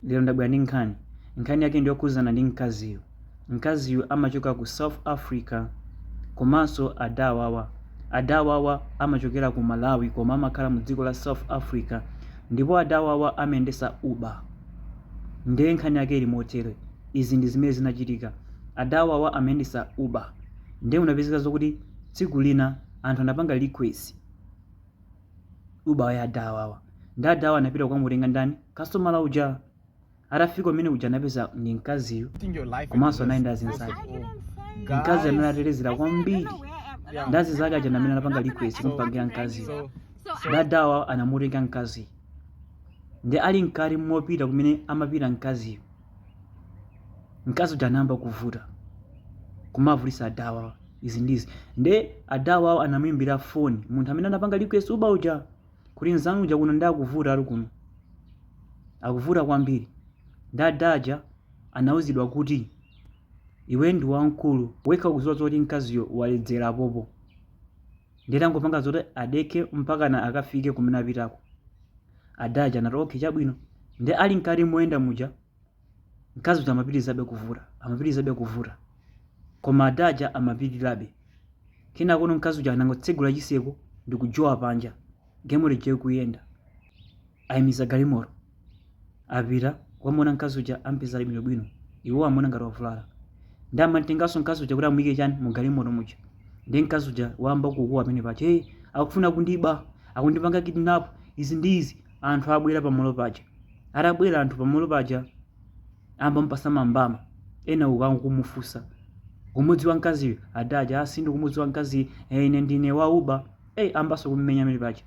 Lero ndabwera ndi nkhani. Nkhani yake ndiyokhudzana ndi mkaziyu. Mkaziyu amachoka ku South Africa komanso adawawa. Adawawa amachokera ku Malawi koma amakhala mu dziko la South Africa ndipo adawawa amayendesa Uber. Nde nkhani yake ili motere, izi ndi zimene zinachitika. Adawawa amayendesa Uber nde kunapezeka zokuti tsiku lina anthu anapanga request. Uber ya adawawa nde adawawa anapita kukamutenga ndani kastomala uja atafika kumene kuja anapeza ndi mkaziyu komanso anali ndi azinzake mkaziyo analedzera kwambiri ndi azinzake aja amene anapanga request kumpangira mkaziyu nde adawawa anamutenga mkaziyo nde ali mkati mopita kumene amapita mkaziyo mkazi uja anayamba kuvuta kumavutitsa adawawa izi ndi izi nde adawawa anamuimbira foni munthu amene anapanga request Uber uja kuti nzanu uja kuno ndi akuvuta ali kuno akuvuta kwambiri nde ada aja anauzidwa kuti iwe ndi wamkulu wekha ukudziwa zoti mkaziyo waledzera apapa nde tangopanga zoti adekhe mpakana akafike kumene akupitako Ada aja anati okay chabwino. Nde ali mkati moyenda muja mkazi uja amapitirizabe kuvuta, amapitirizabe kuvuta. Koma ada aja amapirirabe. Kenakono mkazi uja anangotsegula chitseko ndi kujowa panja. Galimoto ija ikuyenda. Ayimitsa galimoto. Apita kukamuona mkazi uja ampeza ali bwino bwino iwo amuona ngati wavulala nde amutenganso mkazi uja kuti amuike chani mu galimoto muja nde mkazi uja wayamba kukuwa pamene paja hey akufuna kundiba akundipanga kidnap izi ndi izi anthu abwera pa malo paja atabwera anthu pa malo paja ayamba kumupatsa mambama ena uku akumufunsa ukumudziwa mkaziyu ada aja ah sindikumudziwa mkaziyu ine ndine wa uber hey ambanso kumumenya pamene paja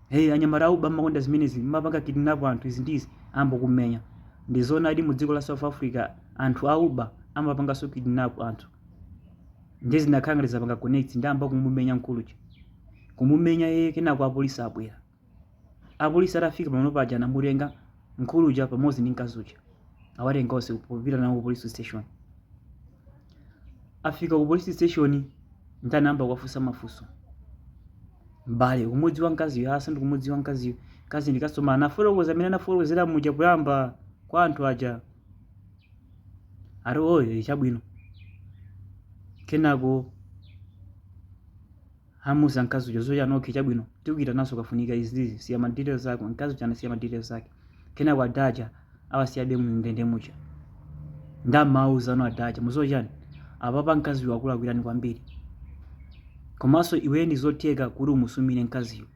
hey anyamata a Uber mmakonda zimenezi mmapanga kidnap anthu izi ndi izi ayamba kummenya ndizoonadi mu dziko la south africa anthu a Uber amapanganso kidnap anthu ndiye zinakhala ngati zapanga connect nde ayamba kumumenya mkulu uja kumumenya yeye kenako apolisi abwera apolisi atafika pamene paja anamutenga mkulu uja pamodzi ndi mkazi uja awatenga onse kupita nawo ku police station afika ku police station nde anayamba kuwafunsa mafunso mbale ukumudziwa mkaziyo aa sindikumudziwa mkaziyo mkaziyu ndi kasitomala anafotokoza mmene anafotokozera muja poyamba kwa anthu aja ati oho chabwino kenako Anamuuza mkazi uja zoti okay chabwino tikuyitananso ukafunika izi izi siya ma details ako mkazi uja anasiya ma details ake kenako ada aja awasiyabe mu ndende muja nde amawauzano ada aja mudziwa chani apapa mkaziyo wakulakwirani kwambiri komanso iweyo ndizotheka kuti umusumire mkaziyo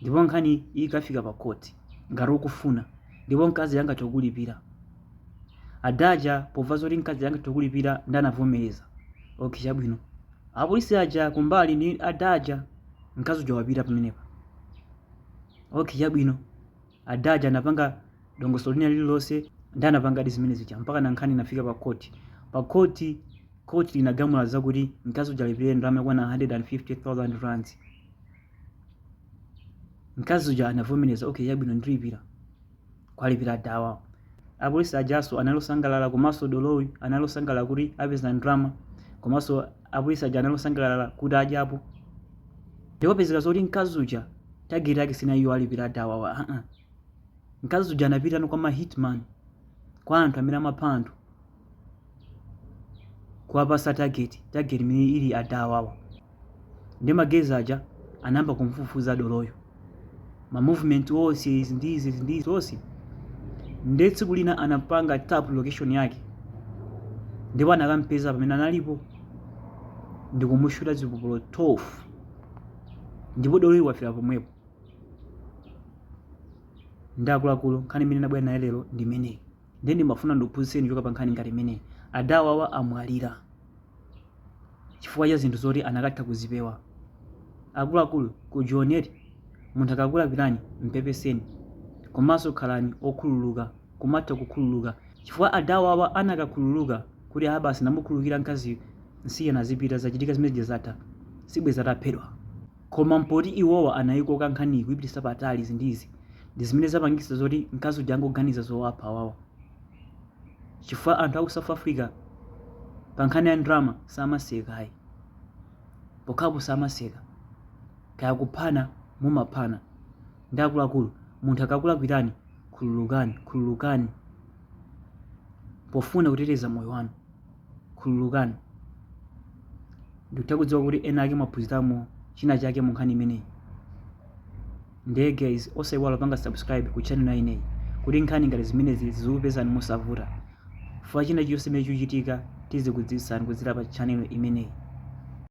ndipo nkhani ikafika pa court ngati ukufuna ndipo mkazi angathe kukulipira adaja pova zoti mkazi angathe kukulipira ndi anavomereza okay chabwino apolisi aja kumbali ndi adaja mkazi uja wapita pamenepa okay chabwino A Daja anapanga dongosolo lina lililonse ndi anapangadi zimene zija mpaka na nkhani inafika pa court. Pa court, court linagamula zakuti mkazi uja alipire ndalama yokwana 150,000 rands. Mkazi uja anavomereza, okay chabwino ndilipira. Kuwalipira adawawa. Apolisi ajaso anali osangalala komanso doloyu anali osangalala kuti apeza ndalama komanso apolisi aja anali osangalala kuti adyapo ndipo pezeka zoti mkazi uja tageti yake sinali iyo alipira adawawa aa mkazi uja anapitano kwa mahitman kwa anthu amene amapha anthu kuwapasa tageti tageti imene ili adawawa ndi magezi aja anayamba kumfufuza doloyo ma movement onse izi ndi izi izi ndi izi onse nde tsiku lina anampanga tap location yake ndipo anakampeza pamene analipo ndikumushuta zipolopolo 12 ndipo doloyi wafera pomwepo ndi akuluakulu nkhani imene ndabwera nayo lero ndi imeneyi nde ndimafuna ndikuphunzitseni choka pa nkhani ngati imeneyi adawawa amwalira chifukwa cha zinthu zoti anakatha kuzipewa. Akuluakulu ku Joni, munthu akakulakwirani mpepeseni komanso khalani okhululuka, kumatha kukhululuka chifukwa adawawa anakakhululuka kuti aa basi ndamukhululukira mkaziyu nsiyeni azipita zachitika zimene zija zatha, sibwenzi ataphedwa. Koma poti iwowa anayikoka nkhaniyi kuyipititsa patali izi ndi izi ndi zimene zapangitsa zoti mkazi uja angoganiza zowapha awawa. chifukwa anthu aku south africa pa nkhani ya ndalama samaseka ayi pokhapo samaseka kaya kuphana amaphana ndi akuluakulu munthu akakulakwirani khululukani khululukani pofuna kuteteza moyo wanu Khululukani. Ndikutha kudziwa kuti ena ake mwaphunziramo china chake mu nkhani imeneyi. Ndiye guys, osaiwala kupanga subscribe ku channel inoyi kuti nkhani ngati zimenezi zizikupezani mosavuta. Chifukwa china chilichonse chimene chikuchitika tizikudziwitsani kudzera pa channel imeneyi.